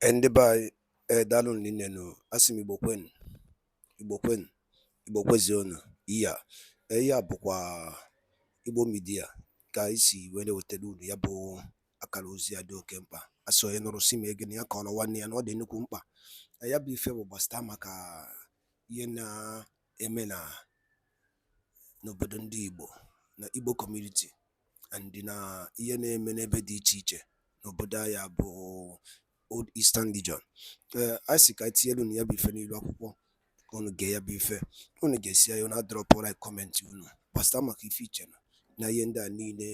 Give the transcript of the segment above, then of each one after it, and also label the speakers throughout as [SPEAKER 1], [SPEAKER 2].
[SPEAKER 1] Eh, ndị be anyị ee eh, daalụ rinne nụ a sị m igbo kwenu igbo kwenu igbo kwezionu ihe a eh, ihe a bụkwa igbo midia ka anyị si wee na-ewetara unu ya bụ akara ozi ya dị oke mkpa a sị onye nụrụ sị mee gịnị ya kọọrọ nwanne ya na ọ dị nnukwu mkpa ya bụ ife bụ gbasịta maka ihe na eme na n'obodo ndị Igbo na Igbo community and na ihe na-eme n'ebe dị iche iche n'obodo anyị a bụ Old Eastern Region ee a sị ka anyị tinyere unu ya bụ ife n'ilu akwụkwọ ka unu gee ya bụ ife unu gesịa ya unu adrọpụ like kọmentị unu gbasịta maka ife i che na na ihe ndị a niile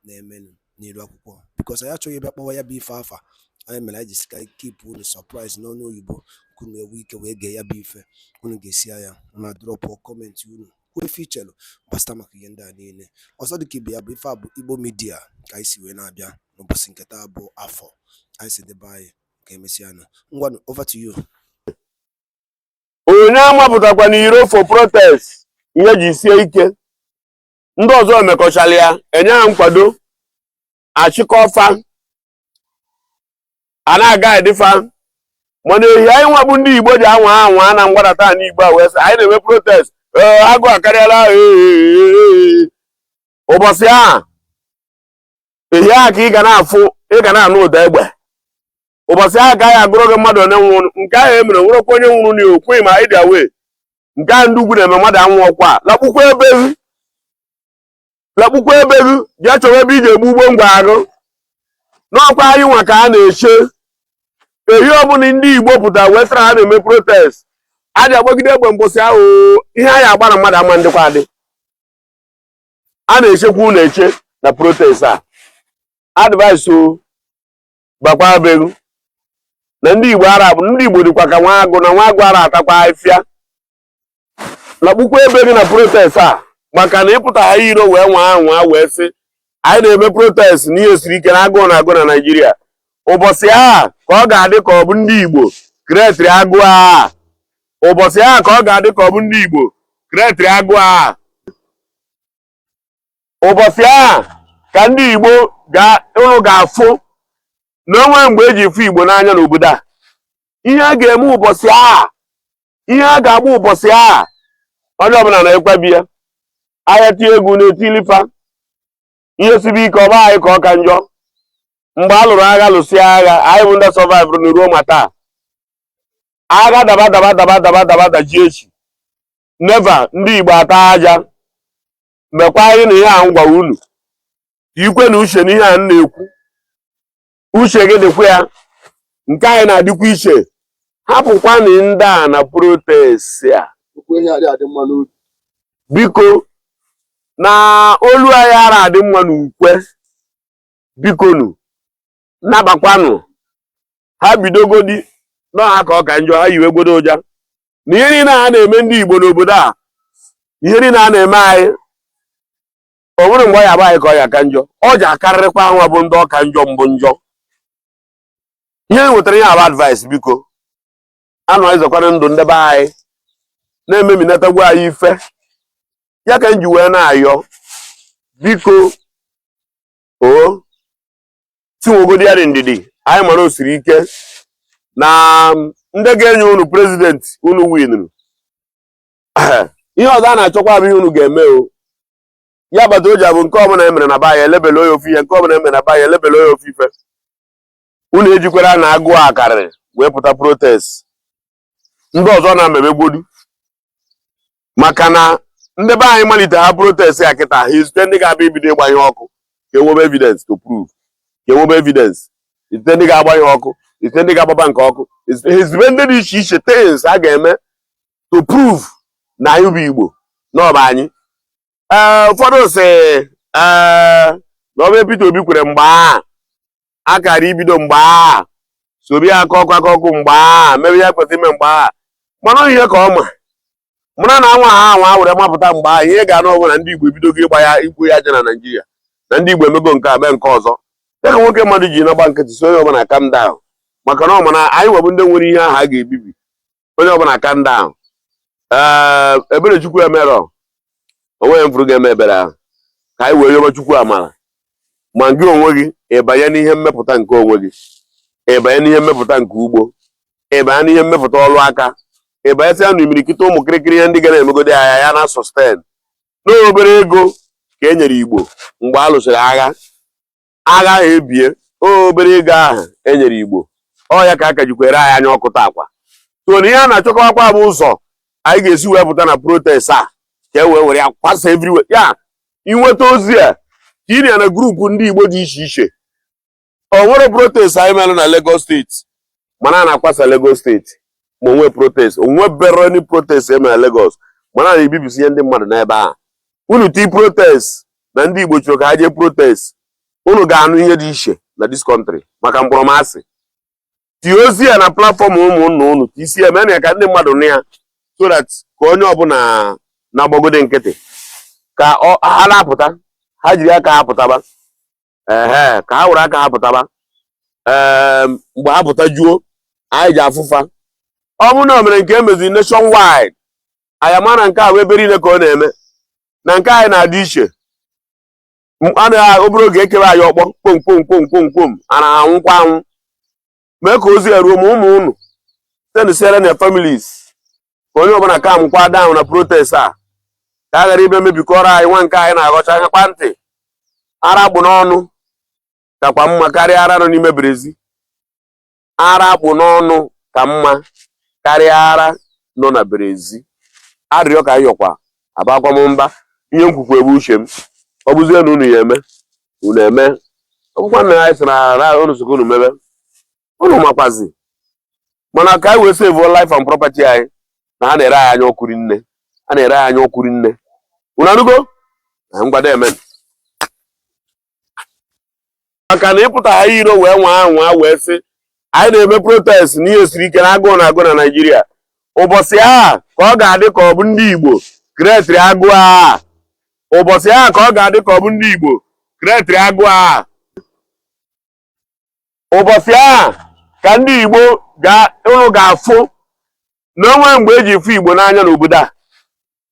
[SPEAKER 1] na-emenụ n'ilu akwụkwọ bikos anyị achọghị ịbịa kpọwa ya bụ ife afa ya mere anyị ji sị ka anyị kipụ unu sọpraịz n'ọnụ oyibo ka unu enwee ike wee gee ya bụ ife unu gesịa ya unu adrọpụ kọmentị unu kwuo ife i chelu gbasịta maka ihe ndị a niile ọzọ dịka ibe ya bụ ife a bụ igbo midia ka anyị si wee na-abịa n'ụbọchị nke taa bụ afọ anyị sị ndị be anyị ka emesịa nụ ngwanụ over to you onye
[SPEAKER 2] amapụtakwana iro for protest ihe ji sie ike ndị ọzọ emekọchara ya enye ha nkwado achịkọọ fa a na-agaịdị fa mana ehi anyị nwa bụ ndị igbo ji anwa anwa na mgbadata na igbo a wee sị anyị na-eme protest ee agụụ akarịala ee, ee, ee, ee. ụbọchị ahụ ehi ahụ ka ị ga na-afụ ị ga na-anụ ụda egbe ụbọchị ahụ ka a ji agụrụ gị mmadụ one nwụrụ nke ahụ emere nwerekwa onye nwụrụ na okwu ma ị dị aware nke ahụ ndị ugwu na-eme mmadụ anwụọkwa lakpukwa ebe gị lakpukwa ebe gị jee chọrọ ebe i ji egbu ugbo ngwa agụ na ọ kwa anyị nwa ka a na-eche ehi ọbụla ndị igbo pụtara wee sị na ha na-eme protest a ji agbagide egbe mbọsị ahụ ihe a ji agba na mmadụ ama ndịkwa adị a na-echekwa unu eche na protest a advice bakwaa be ghụ na ndị igbo ara bụ ndị igbo dịkwa ka nwa agụ na nwa agụ ara atakwa afịa lakpukwa ebe gị na protest a maka na ị pụta ha iro wee nwaa anwa wee sị anyị na-eme protest n'ihe siri ike na agụụ na-agụ na naijiria ụbọchị ahụ ka ọ ga-adị ka ọ bụ ndị igbo krietịrị agụụ a ụbọchị ahụ ka ọ ga-adị ka ọ bụ ndị Igbo krietịrị agụụ ahụ ụbọchị ahụ ka ndị Igbo unu ga-afụ na o nwe mgbe e ji fụ Igbo n'anya n'obodo a ihe a ga-eme ụbọchị ahụ ihe a ga-agba ụbọchị ahụ onye ọbụla na-ekwebi ya ahịa tie egwu na-etili fa ihe sibe ike ọ bụ anyị ka ọ ka njọ mgbe a lụrụ agha lụsịa agha anyị bụ ndị sọvaịvụrụ na ruo ma taa agha daba daba daba daba daba daji echi neva ndị Igbo ata aja mekwa anyị na ihe a m gwara unu ikwe na uche na ihe a m na-ekwu uche gị dịkwa ya nke anyị na-adịkwa iche hapụkwanụ ndị a na protest a okwu ihe adị adị mma n'obi biko na olu anyị ara adị mma n'ukwe bikonu nabakwanụ ha bidogodi na ha ka ọ ka njọ ha yiwegodu ụja na ihe niile ha na-eme ndị Igbo n'obodo a ihe niile a na-eme anyị o nwere mgbe ọ ya-abụ anyị ka ọ ya-aka njọ ọ ja-akarịrịkwa ha nwa bụ ndị ọ ka njọ mbụ njọ ihe e nwetara ihe a bụ advice bikonụ anyị zọkwara ndụ ndị be anyị na e meminatago anyị ife ya ka m ji wee na-ayọ biko o tinwogodi ya dị ndidi anyị mara o siri ike na ndị ga-enye unu president unu winuru ihe ọzọ a na-achọkwa bụ ihe unu ga-eme ọ ya kpata o ji abụ nke ọbụla e mere na be anyị elebele onye ofu ihe nke ọbụla e mere na be anyị elebele onye ofu ife unu ejikwara na agụụ akarịrị wee pụta protest ndị ọzọ na-emebegodu maka na ndị be anyị malite ha protest a kịta ha ezite ndị ga-abịa ibido ịgba ihe ọkụ ka e nwebe evidence to prove ka e nwebe evidence ezite ndị ga-agba ihe ọkụ ezite ndị ga-agba bank ọkụ ezite ndị dị iche iche things a ga-eme to prove na anyị bụ Igbo na ọ bụ anyị ee ụfọdụ sị ee na ọ bụ Peter Obi kwere mgbe a a kara ibido mgbe a sobi aka ọkụ aka ọkụ mgbe a mebe ya kwesịrị ime mgbe a mana ihe ka ọ ma mara na anwa ha anwa were mapụta mgbe a ihe ga-anụ ọ bụrụ na ndị Igbo ebidogo ịgba ya igbu ya aja na Naịjirịa na ndị Igbo emego nke a mee nke ọzọ ya ka nwoke mmadụ ji na-agba nkịtị so onye ọbụla calm down maka na ọ ma na anyị nwa bụ ndị nwere ihe ahụ a ga-ebibi onye ọbụla calm down ee ebere chukwu emerọ o nweghị mfụrụ ga-eme ebere ahụ ka anyị wee yọba chukwu amara ma gị onwe gị ịbanye n'ihe mmepụta nke onwe gị ịbanye n'ihe mmepụta nke ugbo ịbanye n'ihe mmepụta ọrụ aka ịbanyesịa na imirikiti ụmụ kịrịkịrị ihe ndị ga na-emegodi ya na sustain n'obere ego ka e nyere igbo mgbe a lụsịrị agha agha ahụ ebie obere ego ahụ e nyere Igbo ọ ya ka a ka jikwere anyị anya ọkụ taakwa so na ihe a na-achọkọwakwa bụ ụzọ anyị ga-esi wee pụta na protest a ka e wee were ya kwasa everywhere ya ị nweta ozi a ka ị na ya na group ndị Igbo dị iche iche o nwerọ protest anyị mere na Lagos State mana a na-akwasa Lagos State ma e nwee protest o nweberọnụ protest e mere Lagos mana a na-ebibisi ihe ndị mmadụ n'ebe ahụ unu ti protest na ndị Igbo chọrọ ka ha jee protest unu ga-anụ ihe dị iche na this country maka mkpọrọmasị tie ozi a na platform ụmụnna unu ka isi ya mee na ya ka ndị mmadụ nụ ya so that ka onye ọbụla na-agbagode nkịtị ka ha na-apụta ha jiri aka ha pụtaba ehe ka ha were aka ha pụtaba ee mgbe ha pụta juo anyị ji afụfa ọ bụrụ na o mere nke emeziri nationwide anyị ama na nke a wụ ebe niile ka ọ na-eme na nke anyị na-adị iche a nọ obere oge ekewe anyị ọkpọ kpom kpom kpom kpom kpom a na-anwụkwa anwụ mee ka ozi a ruo ma ụmụ unu sendụsiere na families ka onye ọbụla calmụkwa down na protest a ka a ghara ịbịa mebikọrọ anyị nwa nke anyị na-aghọcha akakwa ntị ara a kpụ n'ọnụ kakwa mma karịa ara nọ n'ime berezi ara a kpụ n'ọnụ ka mma karịa ara nọ na berezi arịrịọ ka yọkwa abakwa m mba ihe m kwukwa bụ uche m ọ bụzie na unu ya eme unu eme ọ bụkwa na anyị sị na ara unu sịkwa unu mebe unu makwazi mana ka anyị wee sevuo life and property anyị na ha na-ere anyị anya ọkụ rinne ha na-ere anyị anya ọkụ rinne unu anụgo na ngwada emen maka na ịpụta ha iro wee nwa anwa wee sị anyị na-eme protest na ihe siri ike na agụụ na-agụ na Naịjirịa ụbọchị a ka ọ ga-adị ka ọ bụ ndị Igbo createrị agụụ a ụbọchị a ka ọ ga-adị ka ọ bụ ndị Igbo createrị agụụ a ụbọchị a ka ndị Igbo unu ga-afụ na o nwe mgbe e ji fụ Igbo n'anya n'obodo a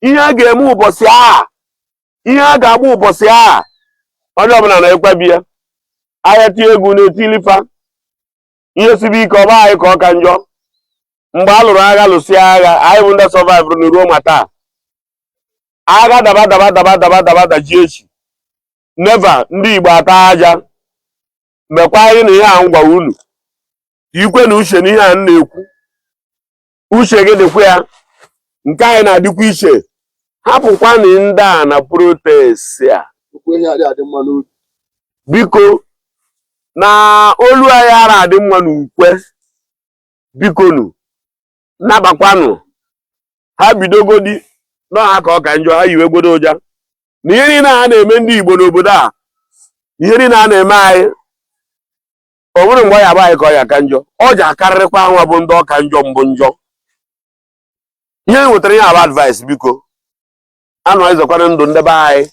[SPEAKER 2] ihe a ga-eme ụbọchị a ihe a ga-agba ụbọchị a onye ọbụla na-ekwebi ya ahịa tie egwu na-etilifa ihe sibe ike ọ bụ anyị ka ọ ka njọ mgbe a lụrụ agha lụsịa agha anyị bụ ndị survivụrụ na ruo ma taa agha daba daba daba daba daba dajie echi never ndị Igbo ata aja mekwa anyị na ihe a ngwa unu ikwe na uche na ihe a m na-ekwu uche gị dịkwa ya nke anyị na-adịkwa iche hapụkwanụ ndị a na protest a biko na olu anyị ara adị mma n'ukwe bikonu nabakwanụ ha bidogodi na ọ ha ka ọ ka njọ ha yiwe gbodo ụja na ihe niile ha na-eme ndị Igbo n'obodo a ihe niile ha na-eme anyị ọ bụrụ mgbe ọ ya abụ anyị ka ọ ya aka njọ ọ ya akarịrịkwa hanwa bụ ndị ọ ka njọ mbụ njọ ihe e nwetara ya abụ advice biko anụ anyị zọkwara ndụ ndị be anyị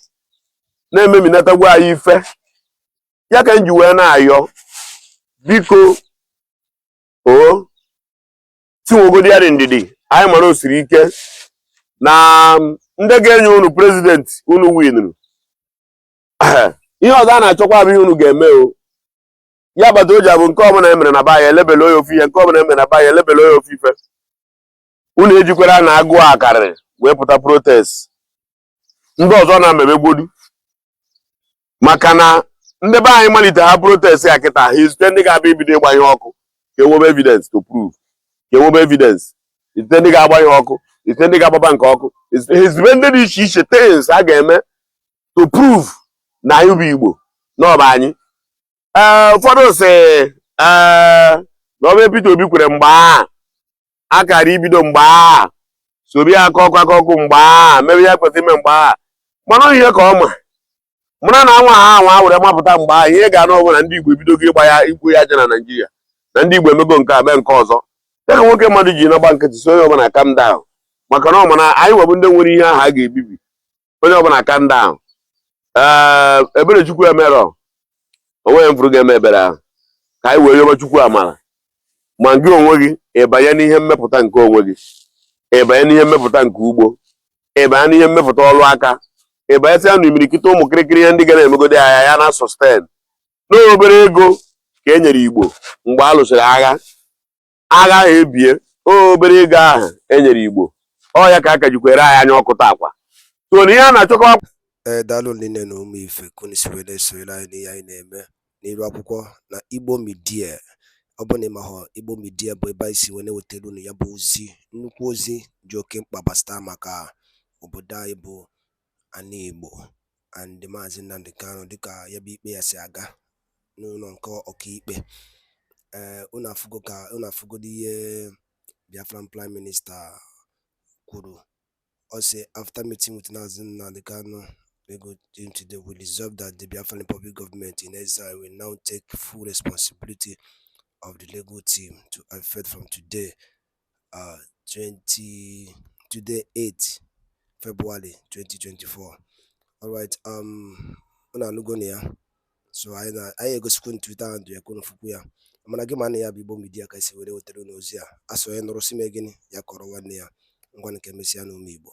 [SPEAKER 2] na-ememinatagwa anyị ife ya ka m ji wee na-ayọ biko ọ sị nwegodi ya dị ndidi anyị mara o siri ike na ndị ga-enye unu prezidenti unu winuru ihe ọzọ a na-achọkwa bụ ihe unu ga-eme o ya bata o ji abụ nke ọbụla e mere na baya elebele onye ofu ihe nke ọbụla e mere na baya elebele onye ofu ife unu ejikwara na agụụ akarịrị wee pụta protest ndị ọzọ na-emebegbodu maka na ndị be anyị malite ha protest ya kịta ha ezite ndị ga-abịa ibido ịgba ihe ọkụ ka e nwebe evidence to prove ka e nwebe evidence ezite ndị ga-agba ihe ọkụ ezite ndị ga-agba bank ọkụ ezite ndị dị iche iche things a ga-eme to prove na anyị bụ Igbo na ọ bụ anyị ee ụfọdụ si ee na ọ bụ Peter Obi kwere mgbe a akara ibido mgbe a soro ya aka ọkụ aka ọkụ mgbe a mere ya kwesịrị ime mgbe a mana ihe ka ọ ma mara na anwa ha anwa were mapụta mgbe a ihe ga-anụ ọ bụ na ndị Igbo ebidogo ịgba ya igbu ya aja na Naịjirịa na ndị Igbo emego nke a mee nke ọzọ ya ka nwoke mmadụ ji na-agba nkịtị so onye ọbụla calm down maka na ọ ma na anyị nwa bụ ndị nwere ihe ahụ a ga-ebibi onye ọbụla calm down ee ebere chukwu emerọ o nweghị m fụrụ ga-eme ebere ahụ ka anyị wee yọba chukwu amara ma gị onwe gị ịbanye n'ihe mmepụta nke onwe gị ịbanye n'ihe mmepụta nke ugbo ịbanye n'ihe mmepụta ọrụ aka ịbanyesịa na imirikiti ụmụ kịrịkịrị ihe ndị ga na-emegodi ya na sustain n'obere ego ka e nyere igbo mgbe a lụsịrị agha agha ahụ ebie obere ego ahụ e nyere Igbo ọ ya ka a ka jikwere anyị anya ọkụ taakwa so na ihe a na-achọkọ ee daalụ nne
[SPEAKER 1] na ụmụ ife ka unu si wee na-esonyere anyị n'ihe anyị na-eme n'iru akwụkwọ na Igbo Media ọ bụ na ị mahọ Igbo Media bụ ebe anyị si wee na-ewetara unu ya bụ ozi nnukwu ozi dị oke mkpa gbasara maka obodo anyị bụ ana Igbo and Maazị Nnamdi Kanu dịka ya bụ ikpe ya si aga n'ụlọ nke ọkaikpe ee eh, unu afụgo ka unu afụgodo ihe Biafran Prime Minister kwuru ọ sị after meeting with Maazị Nnamdi Kanu legal team today we resolve that the Biafran Republic government in exile will now take full responsibility of the legal team to effect from today uh, to today 8 February 2024 alright um unu anụgonụ ya so anyị na anyị egosikwa na Twitter handle ya ka unu fụkwụ ya mana gị ma na ya bụ Igbo Media ka e si were wetara unu ozi a a sị onye nụrụ sị mee gịnị ya kọrọ nwanne ya ngwanụ ka e mesịanụ ụmụ Igbo